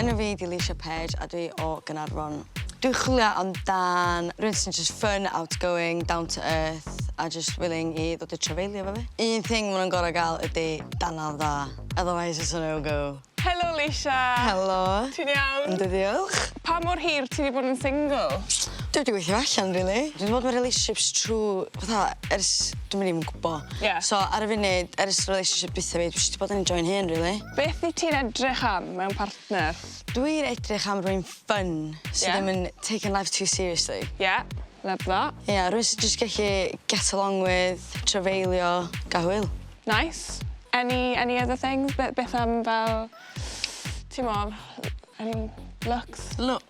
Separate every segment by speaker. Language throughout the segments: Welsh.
Speaker 1: Enw fi di
Speaker 2: Leisha Page a dwi o Gaernarfon. Dwi'n chwilio amdan rhywun sy'n just fun, outgoing, down to earth a just willing i ddod i trafeilio efo fi. Un thing ma' nhw'n gor'o' ga'l ydi danadd dda, otherwise it's a no go. Helo Leisha!
Speaker 1: Helo. Ti'n
Speaker 2: iawn? Yndw
Speaker 1: diolch. Pa
Speaker 2: mor hir ti
Speaker 1: 'di bod yn single? Dwi 'di gweithio
Speaker 2: allan rili. Dwi 'di bod mewn relationships trw fatha ers dwi'm yn even gwbo. Ie. So ar y funud ers relationship dwitha fi dwi jyst 'di bod yn enjoio'n hun rili. Beth wyt ti'n edrych
Speaker 1: am mewn partner? Dwi'n edrych
Speaker 2: am rywun ffyni... Ie. ...sy ddim yn taken life too seriously. Ie, love
Speaker 1: that. Ie, rywun sy jyst gellu
Speaker 2: get along with, trafeilio, ga'l hwyl. Nice.
Speaker 1: Any any other things be- beth am fel t'mod any looks? Looks?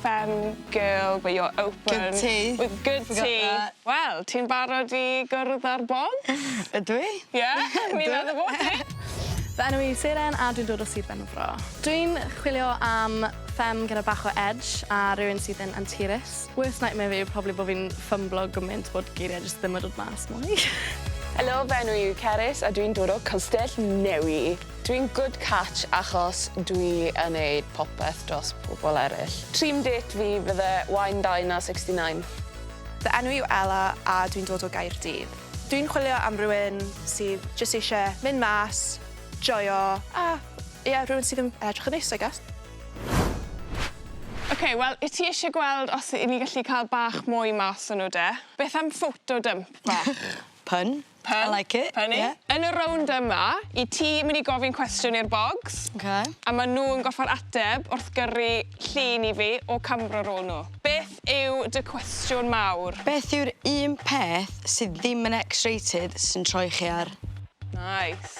Speaker 1: Fem girl but you're open. Good tea. With
Speaker 2: good tea. Forgot
Speaker 1: that. Wel ti'n
Speaker 2: barod
Speaker 1: i gwrdd â'r bog? Ydw i.
Speaker 2: Ie? O'n i'n
Speaker 1: meddwl bo' ti. Fy enw i yw
Speaker 3: Seren a dwi'n dod o Sir Benfro. Dwi'n chwilio am fem gyda bach o edge a rywun sydd yn anturus. Worst nightmare fi yw probably bo' fi'n ffymblo gymint bod geirie jyst ddim yn dod mas mwy. Helo fy
Speaker 4: enw i yw Cerys a dwi'n dod o Castell Newy. Dwi'n good catch achos dwi yn neud popeth dros pobl eryll. Dream date fi fydde wine dine ar sixty ninth. Fy enw
Speaker 5: yw Ella a dwi'n dod o Gaerdydd. Dwi'n chwilio am rywun sydd jyst eisiau mynd mas, joio a ie rhywun sydd yn edrych yn neis I guess.
Speaker 1: Ok, wel i ti eisiau gweld os i ni gallu cael bach mwy mas o nhw de? Beth am photo dump bach? Pun?
Speaker 2: Pen. I like it. Penny. Ie. Yn y rownd yma,
Speaker 1: i ti myn' i gofyn cwestiwn i'r bogs. Oce. A ma' nw
Speaker 2: yn gorffod
Speaker 1: ateb wrth gyrru llun i fi o camra rôl nw. Beth yw dy cwestiwn mawr? Beth yw'r un
Speaker 2: peth sydd ddim yn X-rated sy'n troi chi ar? Nice.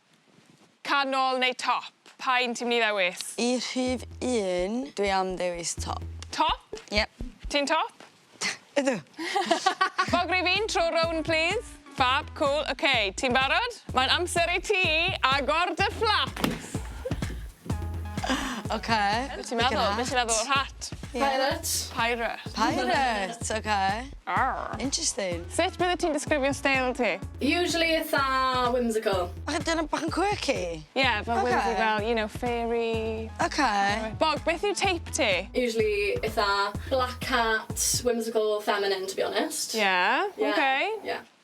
Speaker 1: Canol neu top? Pa un ti'n mynd i ddewis? Y rhif
Speaker 2: un, dwi am dewis top. Top? Yep.
Speaker 1: Ti'n
Speaker 2: top?
Speaker 1: Ydw. Bog rhif un, tro rownd plîs. Ffab, cŵl, oce, ti'n barod? Mae'n amser i ti agor dy fflaps! Oce. Be' ti'n meddwl? Be'
Speaker 2: ti'n meddwl o'r
Speaker 1: hat? Pirate.
Speaker 2: Pirate.
Speaker 1: Pirate,
Speaker 2: oce. Aww. Interesting.
Speaker 1: Sut
Speaker 2: bydde ti'n disgrifio
Speaker 1: steil ti? Usually itha
Speaker 6: whimsical. Bach yn dyn bach yn
Speaker 2: quirky? Ie, fel whimsy
Speaker 1: fel, you know, fairy. Ok.
Speaker 2: Bog, beth yw teip
Speaker 1: ti? Usually itha
Speaker 6: black cat, whimsical, feminine to be honest. Ie, ok.
Speaker 1: Ie.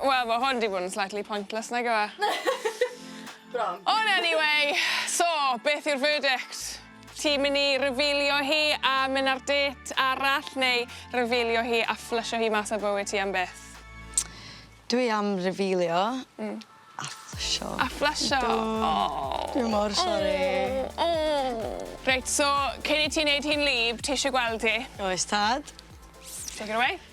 Speaker 3: Wel, mae hwn wedi bod
Speaker 1: yn slightly pointless, nag yw e?
Speaker 3: Bron. Ond anyway,
Speaker 1: so, beth yw'r verdict? Ti'n mynd i revealio hi a mynd ar date arall neu revealio hi a fflysio hi mas o bywyd ti am byth?
Speaker 2: Dwi am revealio a fflysio. A fflysio? Do.
Speaker 1: O! Dwi mor sori.
Speaker 2: O!
Speaker 1: Reit, so, cyn i ti wneud hi'n wlyb, ti eisiau gweld hi? Oes tad.
Speaker 2: Take
Speaker 1: it away.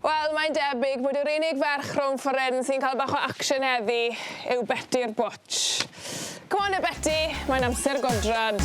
Speaker 1: Wel, mae'n debyg bod yr unig ferch rhwng ffordd sy'n cael bach o action heddi yw Beti'r Bwtsh. Come on, Beti, mae'n amser godrad.